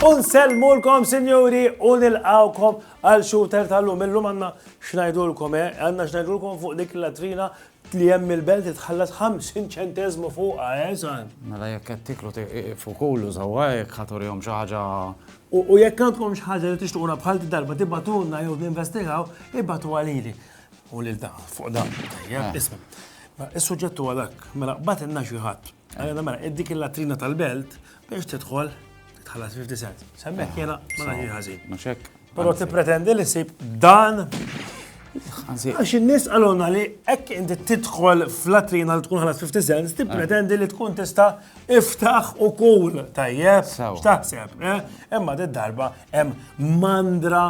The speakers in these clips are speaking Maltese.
Unselmulkom, sinjuri, u nilqawkom għal shooter tal-lum. Illum għanna xnajdulkom, eh? Għanna xnajdulkom fuq dik latrina Tliem mill-belt itħallas ħamsin ċenteżmu fuqha, eh, sar? Mela jekk qed tieklu tieqfu kulu sewwa jekk ħa turihom xi ħaġa. U jekk għandkom xi ħaġa li tixtuquna bħal d-darba tibgħatulna jew ninvestigaw, ibgħatuha lili. U lil dan, fuq dan. Tajjeb, isma'. Is-suġġett huwa dak, mela bgħatilna xi ħadd. Għalina mela, id-dik il-latrina tal-belt biex tidħol tħallas 50 cent. Semmek jena ma naħi ħażin. Mhux hekk. Però tippretendi li sib dan Għax in-nies għaluna li hekk inti tidħol fl-latrina li tkun ħalas 50 cent, tippretendi li tkun tista' iftaħ u kull tajjeb. X'taħseb? Eh? Imma d-darba hemm mandra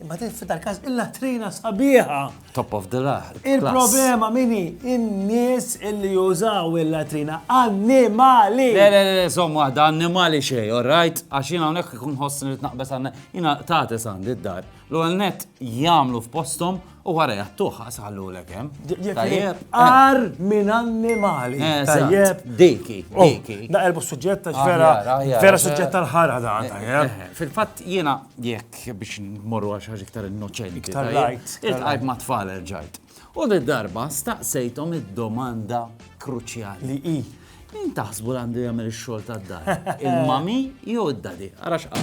Imma din f'dal każ il-latrina sabiħa. Top of the lah. Il-problema mini in-nies illi jużaw il-latrina annimali. Le, le, le, zom waħda annimali xej, all right? Għax jina unek kun ħossni li tnaqbes għanna, jina tati sandi d-dar. L-għal net jamlu f'postom u għara jattuħ għasallu l kem. Tajjeb. Ar minn annimali. Eh, tajjeb. Diki, oh, diki. Da erbu suġġetta, vera, vera suġġetta l-ħara da. Eh, eh, Fil-fat jina jekk biex nmorru għal xi ħaġa iktar innoċenti. Iktar light. Iltqajt ma' tfal erġajt. U di darba staqsejthom id-domanda kruċjali. Li hi. Min taħsbu għandu jagħmel ix-xogħol tad-dar? Il-mami jew id-dadi? Ara x'qal.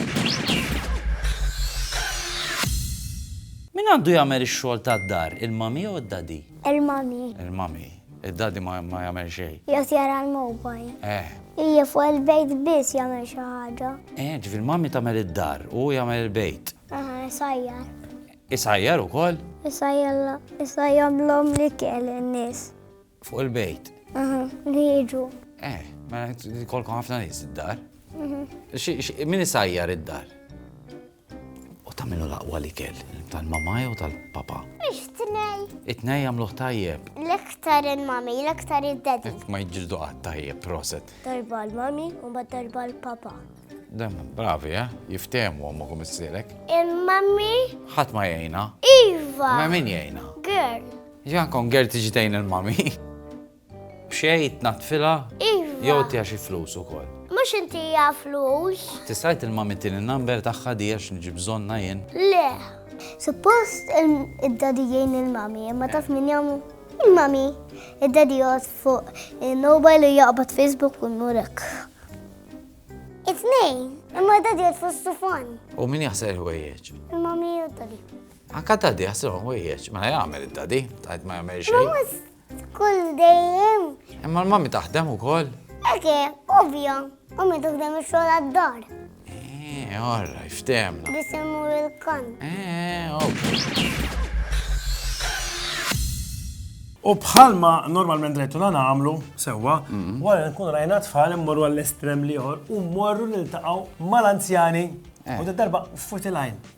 Min għandu jagħmel ix-xogħol tad-dar? Il-mami jew id-dadi? Il-mami. Il-mami. Id-Daddy ma jagħmel xejn. Jgħod jara l-mobile. Eh. Ija fuq il-bejt biss jagħmel xi ħaġa. Eh, ġifier mami tagħmel id-dar u jagħmel il-bejt. Aha, isajjar. Isajjar ukoll? Isajjar la, isajjar l-om li kell in-nies. Fuq il-bejt? Aha, li jiġu. Eh, ma mela, kolkom ħafna nies id-dar. Mhm. Min isajjar id-dar? U ta' min hu l-aqwa l-ikel? Tal-mamà jew tal-papà? It-tnej. It-tnej jagħmluh tajjeb. L-iktar il-mommy, l-iktar id-daddy. Ma jiġġieldu qatt tajjeb, proset. Darba l-mommy u mbagħad darba l-papà. Dem, bravi, eh? Jiftehmu ommok u missierek. Il-mommy? Ħadd ma jgħinha. Iva! Ma min jgħinha? Girl. Ġan kon girl tiġi tgħin il-mommy. B'xejn tnaddfilha? Iva. Jew tiha xi flus ukoll? Mhux intiha flus. Tista' tilma' mit-tieni number tagħha di għax niġi bżonnha jien? Le. Suppost id-daddy jgħin il-mommy imma taf min jagħmlu? Il-mommy. Id-daddy joqgħod fuq il-mobile u jaqbad Facebook u jmurek. It-tnejn, imma daddy joqgħod fuq stufan. U min jaħsel il-ħwejjeġ? Il-mommy u d-daddy. Anka daddy jaħsel il-ħwejjeġ, mela jagħmel id-daddy, tajt ma jagħmel xejn. F'kull dejjem. Imma l-mami taħdem ukoll. Eke, ovvja, u mi tuħdem ix-xogħol għad-dar. Eh, orra, iftemna. Bisimmu il-kan. Eh, ok. U bħalma normalment rajtu na nagħmlu sewwa, mhm. wara nkun rajna tfal immorru għall-estrem liħor u morru niltaqgħu mal-anzjani eh. u darba futilajn.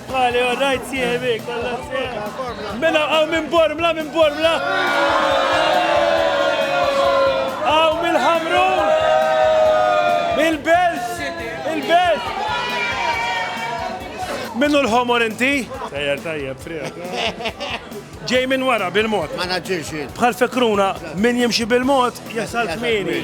Għali, all right, sieħbi, kollha sieħbi. Mela għaw minn Bormla, minn Bormla. Għaw mill-Ħamrun. Mill-Belt, il-Belt. Minnu l-ħomor inti? Sejjer tajjeb, frijak. Ġej minn wara bil-mod. Ma naġġilx. Bħal fekruna, min jimxi bil-mod, jasal kmini.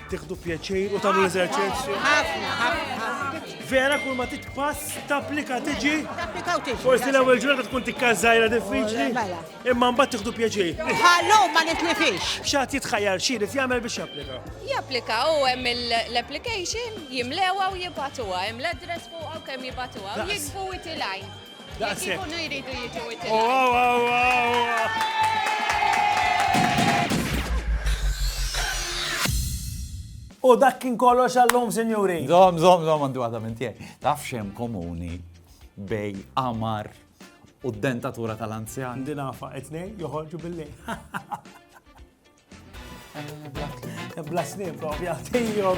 Tiħdu pjaċir u tagħmlu l-eżerċizzju. Ħafna, ħafna. Vera kull ma titpass tapplika tiġi. Tapplika u tiġi. Forsi l-ewwel ġurnata tkun tikka żgħira diffiċli. Oh, mela. Imma mbagħad tiħdu pjaċir. Ħallu ma nitlifix. X'għad jitħajjar xi jrid jagħmel biex japplika. Japplika u hemm l-application jimlewa u jibatuha, hemm l-address fuq u kemm jibatuha, jikbu itilajn. Jekk ikunu jridu jiġu U dak kien kollox għallum, sinjuri. Zom, zom, zom, għandu għadha minn tiegħi. Taf xem komuni bej amar u d-dentatura tal-anzjan. Dinafa, etnej joħorġu billi. Blasni, propja, tijom,